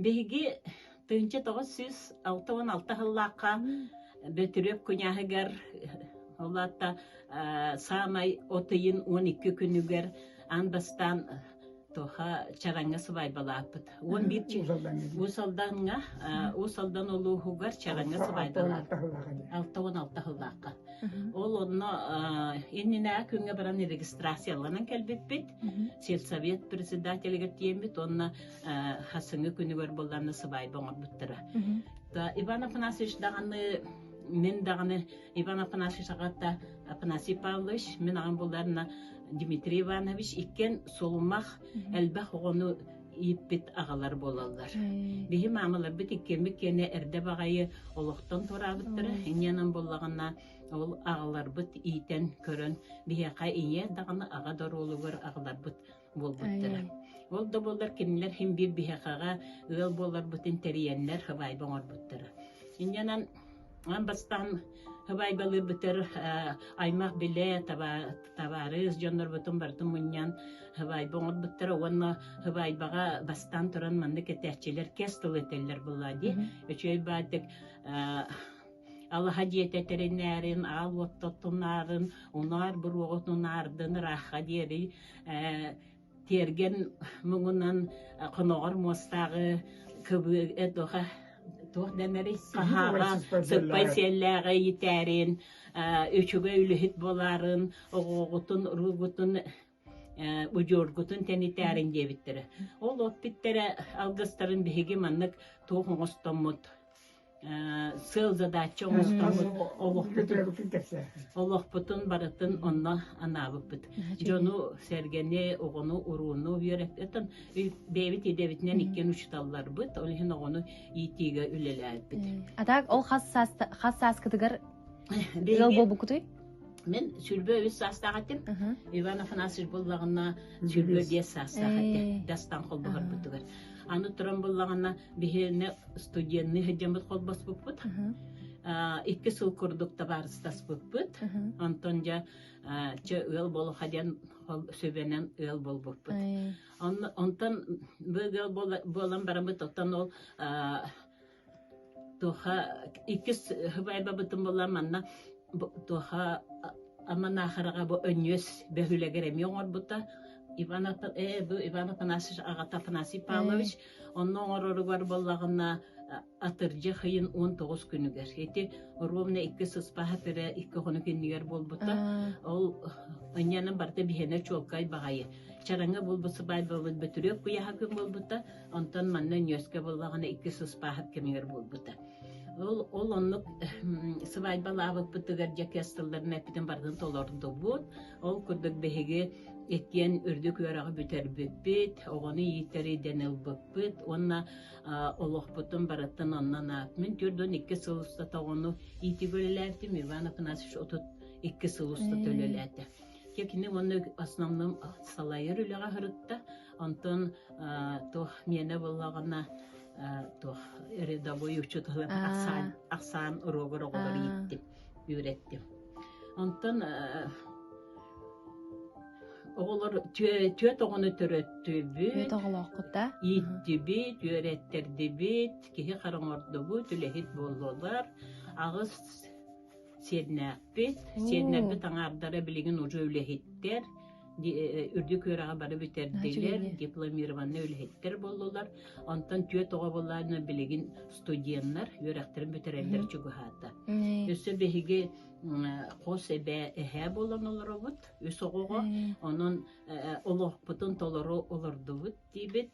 Биһиги тыһыынча тоҕус сүүс алта уон алта сыллаахха Бөтүрүөп куняһыгар ол аата саамай от ыйын уон икки күнүгэр аан бастаан туха Чараҥҥа сыбаайбалааппыт. Уон биир Уус Алдаҥҥа Уус Алдан улууһугар Чараҥҥа сыбаайбалааппыт. Алта уон алта сыллаахха. Ол онно иннинэ күҥҥэ баран регистрацияланан кэлбиппит. Сельсовет председателигэр тиэммит уонна хасыңы күнүгэр болланны сыбайба оңорбуттара да иван афанасьевич даҕаны мен даҕаны иван афанасьевич аҕата афанасий павлович мен аҕам булларна дмитрий иванович иккен сулумах элбэх оҕону ииппит агалар болаллар биһи маамаларбыт иккэммит киэне эрдэ баҕайы олохтон тураабыттара инньэнэн боллаҕына ол агаларбыт иитэн көрөн биһиэхэ ийэ даҕаны аҕа доруолугар агаларбыт буолбуттара. Ол да буоллар кинилэр хин биир биһэхаҕа ыал буоларбытын тэрийэннэр хабайба оҥорбуттара. Инньэнэн ан бастаан хабайбалыырбытыр аймақ біле табаарыс дьоннорбутун бартын мунньан хабайба оҥорбуттара уонна хабайбаҕа бастаан туран манны кэтээччилэр кес тылы этэллэр булла ди өчөй баадык алаха диэтэ тэринээрин аал уоттотунаарын унаар буруоҕутунаардын ыраахха диэри тиэргэн муҥунан хоноҕор муостааҕы кыбыа туха туох дэнэри хаһааҕа сыппай сиэллээҕи ийтээрин үчүгэй үлүһүт буоларын оҕоҕутун уруугутун удьуоргутун тэнитээрин диэбиттэрэ ол оппиттэрэ алгыстарын биһиги маннык туох оҥостоммут сыал задача олохпутун барытын онно анаабыппыт дьону сэргэни оҕону урууну үөрэттэн бэйэбит идэбитинэн иккиэн учуталларбыт ол иһин оҕону иитиигэ үлэлээбит атак ол хас сааскытыгар ыал буолбуккутуй мен сүлбө үс саастаах этим иван афанасьевич буллаҕына сүлбө биэс саастаах этэ дастан холбоһорбутугар аны туран буллаҕына биһиэнэ студенный сылдьаммыт холбоспуппут икки сыл курдук табаарыстаспыппыт онтон дьэ чэ ыал болуха диэн сөбөнөн ыал болбуппут онтон бу ыал буолан барамыт оттон ол Туоха иккис бабытын булан манна туоха Аман Аахараҕа бу өнньүөс бөһүөлэгэр эмиэ оҥорбута Иван э бу Иван Афанасьевич аҕата Афанасий Павлович онно оҥороругар буоллаҕына атырдьах ыйын он тоҕус күнүгэр ити ровно икки сыспаһа тыры икки хонук иннигэр буолбута ол анньанан барыта биһэнэ чуолкай баҕайы чараҥы булбут сыбаайбабыт бөтүрүөк куйаһа күн буолбута Онтон манна ньүөскэ буоллаҕына иккис ыспааһыт кэмигэр буолбута. Ол ол оннук сыбаайбалаабыппытыгар дьэкиэс тылларын эппитин барытын толордубут. Ол курдук биһиги иккиэн үрдүк үөрэҕи бүтэрбиппит, оҕону иитэри диэн ылбыппыт уонна олохпутун барыттан оннон аатмын төрдүн икки сыл устата оҕону иитигэ үлэлээбитим Иван Афанасьевич отут икки сыл устата үлэлээтэ. Я кини уонна основном салайар үлэҕэ сырытта. Онтон туох миэнэ буллаҕына туох рядовой учетылын ахсаан ахсаан уруогар оҕолор ииттим, үөрэттим. Онтон оҕолор түөрт оҕону төрөттүбүт. Түөрт оҕолооххут да? Ииттибит, үөрэттэрдибит, киһи хараҥордубут, үлэһит буоллулар. Аҕыс Сиэднээхпит. Сиэднэрбит аҥаардара билигин уже үлэһиттэр, үрдүк үөрэҕи бары бүтэрдилэр, дипломированный үлэһиттэр боллулар. Онтон түөрт оҕо боллаана билигин студеннар үөрэхтэрин бүтэрэллэр чугаһаата. Өссө биһиги хос эбээ эһээ болон олоробут үс оҕоҕо. Онон олохпутун толору олордубут диибит.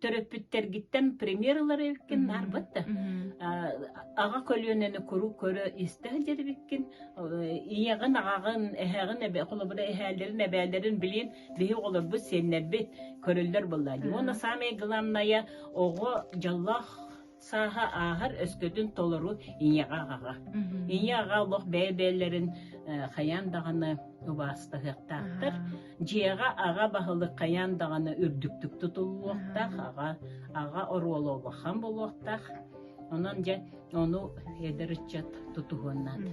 төрөппүттэргиттэн премьер ылары эккин нарбыт да аҕа көлүөнэни куру көрө истэ сылдьарбиккин ийэҕин аҕаҕын эһэҕин эбэ холобура эһээлэрин эбээлэрин билин биһи оҕолорбут сиэннэрбит көрөллөр буолла уонна самое главное оҕо дьоллоох сааһа ааһар өскөтүн толору ийэҕэ аҕаҕа. Ийэ аҕа олох бэйэ-бэйэлэрин хайаан даҕаны убаастаһыахтаахтар. Дьиэҕэ аҕа баһылык хайаан даҕаны үрдүктүк тутуллуохтаах, аҕа аҕа оруола улахан буолуохтаах. Онон дьэ ону эдэр ыччат тутуһуон наада.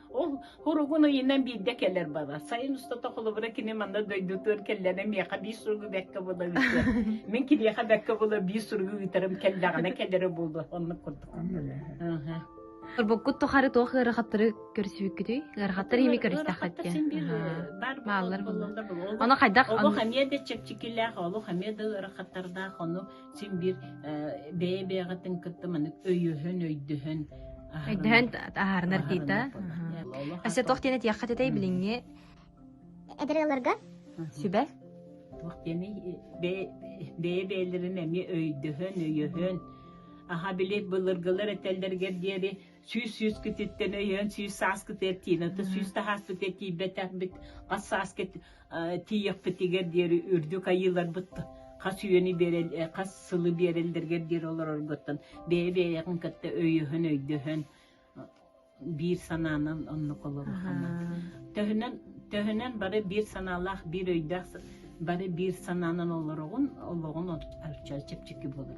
Ол хоругун ыйынан биирдэ кэлэр бала. Сайын устата холобура кини манна дойдутугар кэллэҕэ миэхэ биир суругу бэркэ була ыытыа. Мин кириэхэ бэркэ була биир суругу ыытарым кэллэҕинэ кэлэрэ буолуо. Оннук курдук. Сырбыккут тухары туох ыарахаттары көрсүбүккүтүй? Ыарахаттары ими көрүстэххитке. Мааллар булла. Ону хайдах? Олох эмиэ да чэпчикилээх, олох эмиэ да ыарахаттардаах, ону син биир бэйэ бэйэҕитин кытта маннык өйөһөн өйдөһөн өйдөһөн таһаарынар дита өссө туох диэн этиэххэ этэй билиҥҥи эдэрэлэргэр сүбэ туох диэни бэйэ бэйэлэрин эмиэ өйдөһөн өйөһөн аха били былыргылар этэллэргэр диэри сүүс сүүскититтэн өйөөн сүүс сааскыт эртиин отто сүүс таһааскыт тиийбэтэрбит хас сааскыт тиийэхпитигэр диэри үрдүк айыыларбыт хас үйэни биэрэл хас сылы биэрэллэргэр диэри олороргуттан бэйэ бэйэҕин кытта өйөһөн өйдөһөн биир санаанан оннук олорухана төһөнөн төһөнөн бары биир санаалаах биир өйдөөх бары биир санаанан олороҕун олоҕун чэпчэки болор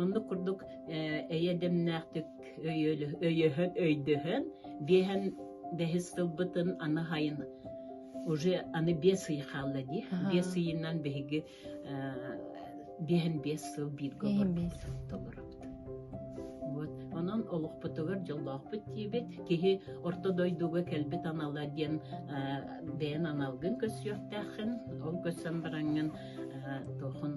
Оннук курдук эйэдэмнээхтик өйөһөн, өйдөһөн, биэһэн бэһис кылбытын аны хайын уже аны бес ый хаалла ди бес ыйынан биһиги биэһин биэс сыл бииргэ олорбут толоробут вот онон олохпутугар дьоллоохпут диэбит киһи орто дойдуга кэлбит анала диэн бэйэн аналгын көссүөхтээххин ол көссөн бараҥҥын тохон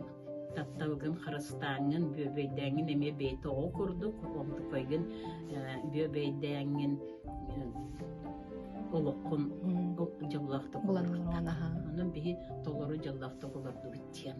тапталгын харыстааҥҥын бүөбэйдээҥҥин эмиэ бэйи тоҕо курдук онтукайгын бүөбэйдээҥҥин олоххун бу дьоллоохтук олорорунан онон биһи толору дьоллоохтук олордубут диэн